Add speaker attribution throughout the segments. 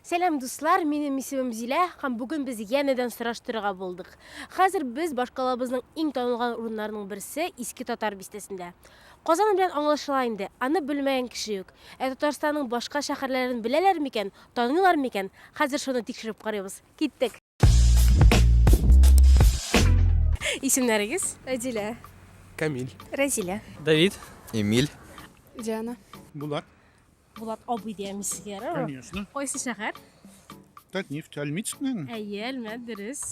Speaker 1: Сәлам дуслар, минем исемем Зилә һәм бүген без янәдән сораштырырга булдык. Хәзер без башкалабызның иң танылган урыннарының берсе Иске Татар бистәсендә. Казан белән аңлашыла инде, аны белмәгән кеше юк. Ә Татарстанның башка шәһәрләрен беләләр микән, таныйлар микән? Хәзер шуны тикшереп карыйбыз. Киттек! Исемнәрегез? Әдилә.
Speaker 2: Камиль.
Speaker 3: Рәзилә.
Speaker 1: Давид.
Speaker 4: Эмиль.
Speaker 5: Диана.
Speaker 2: Булат.
Speaker 3: Булат
Speaker 1: абый дияме сезгә? Конечно. Кайсы
Speaker 3: шәһәр?
Speaker 1: Татнефть,
Speaker 3: Альмитскнен. Әйе, Әлмәт, дөрес.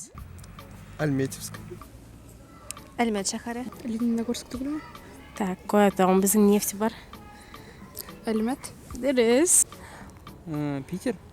Speaker 1: Альметьевск.
Speaker 2: Әлмәт шәһәре. Лениногорск түгелме? Так, кая
Speaker 1: тагын безнең нефть бар?
Speaker 2: Әлмәт. Дөрес.
Speaker 1: Э,
Speaker 4: Питер.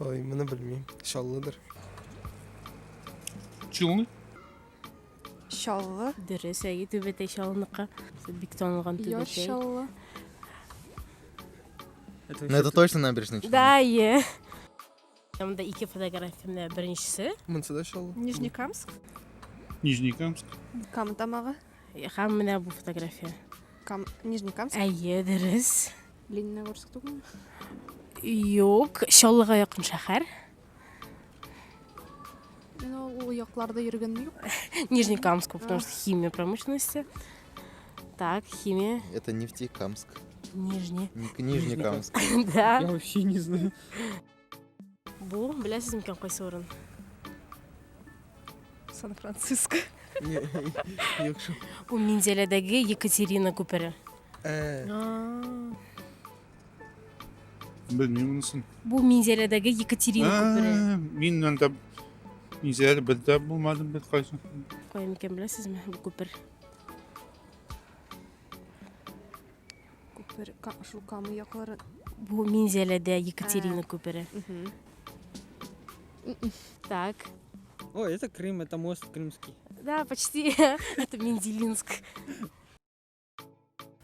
Speaker 3: Ой, моны белмим. Чаллыдыр. Чулны? Чаллы.
Speaker 2: Дөрес, әйе, Түбәтәй
Speaker 1: Чаллыныкы. Бик танылган Яр Түбәтәй. Чаллы.
Speaker 5: Ну, это точно набережная Челны. Да, әйе.
Speaker 1: Монда ике фотографиям да. Беренчесе. Монсы да Чаллы.
Speaker 3: Нижнекамск. Нижнекамск. Кам
Speaker 2: тамагы. Һәм менә бу
Speaker 1: фотография. Кам... Нижнекамск?
Speaker 2: Әйе, дөрес.
Speaker 1: Лениногорск
Speaker 2: түгелме?
Speaker 1: Юк, Чаллыга якын шәһәр.
Speaker 2: Ну, ул якларда йөргәнем юк. Нижнекамск, потому
Speaker 1: что химия промышленности. Так, химия. Это Нефтекамск.
Speaker 5: Нижний.
Speaker 1: Нижнекамск.
Speaker 5: Да. Я вообще
Speaker 1: не знаю. Бу, беләсез микән кайсы урын?
Speaker 2: Сан-Франциско.
Speaker 3: Юк шул. Бу Минзәләдәге
Speaker 1: Екатерина күпере. Э,
Speaker 3: Белмим монысын. Бу Минзәләдәге
Speaker 1: Екатерина күпере. Ә, Мин анда
Speaker 3: Минзәләдә бер дә булмадым бит кайсы. Кая микән
Speaker 1: беләсезме бу күпер?
Speaker 2: Күпер, шул Камы яклары. Бу Минзәләдә
Speaker 1: Екатерина күпере. Так. О, это
Speaker 4: Крым, это мост крымский. Да, почти.
Speaker 1: Это Менделинск.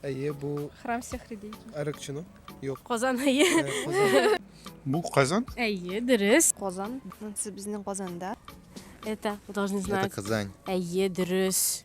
Speaker 3: Әйе, бу Храм всех людей.
Speaker 2: Арыкчыны?
Speaker 3: Юк. Казан әйе. Э, бу Казан? Әйе, дөрес.
Speaker 1: Казан. Монсы
Speaker 2: безнең Казанда. Это,
Speaker 1: должны знать. Это Казань.
Speaker 5: Әйе, дөрес.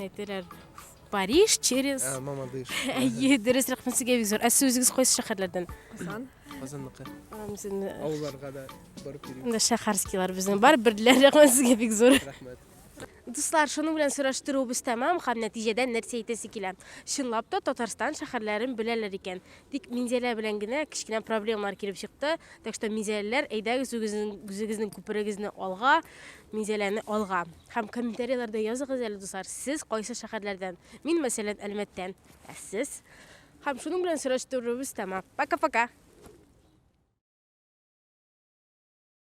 Speaker 3: Әйтеләр
Speaker 1: Париж через Ә, мама дыш.
Speaker 3: Әйе, дөрес
Speaker 1: рәхмәт сезгә бик зур. Ә сез үзегез кайсы шәһәрләрдән? Казан.
Speaker 3: Казанныкы.
Speaker 1: Авылларга да
Speaker 3: барып йөрим. Анда шәһәрскилар безнең
Speaker 1: бар, берләр рәхмәт сезгә бик зур. Рәхмәт.
Speaker 3: Дуслар,
Speaker 1: шуның белән сораштыруыбыз тәмам һәм нәтиҗәдә нәрсә әйтәсе килә? Чынлап та Татарстан шәһәрләрен беләләр икән. Тик Минзәлә белән генә кечкенә проблемалар килеп чыкты. Так что Минзәләләр, әйдәгез үзегезнең үзегезнең күперегезне алга. Минзәләне алга. Һәм комментарийларда языгыз әле, дуслар, сез кайсы шәһәрләрдән? Мин, мәсәлән, Әлмәттән. Ә сез? Һәм шуның белән сораштыруыбыз тәмам. Пока-пока!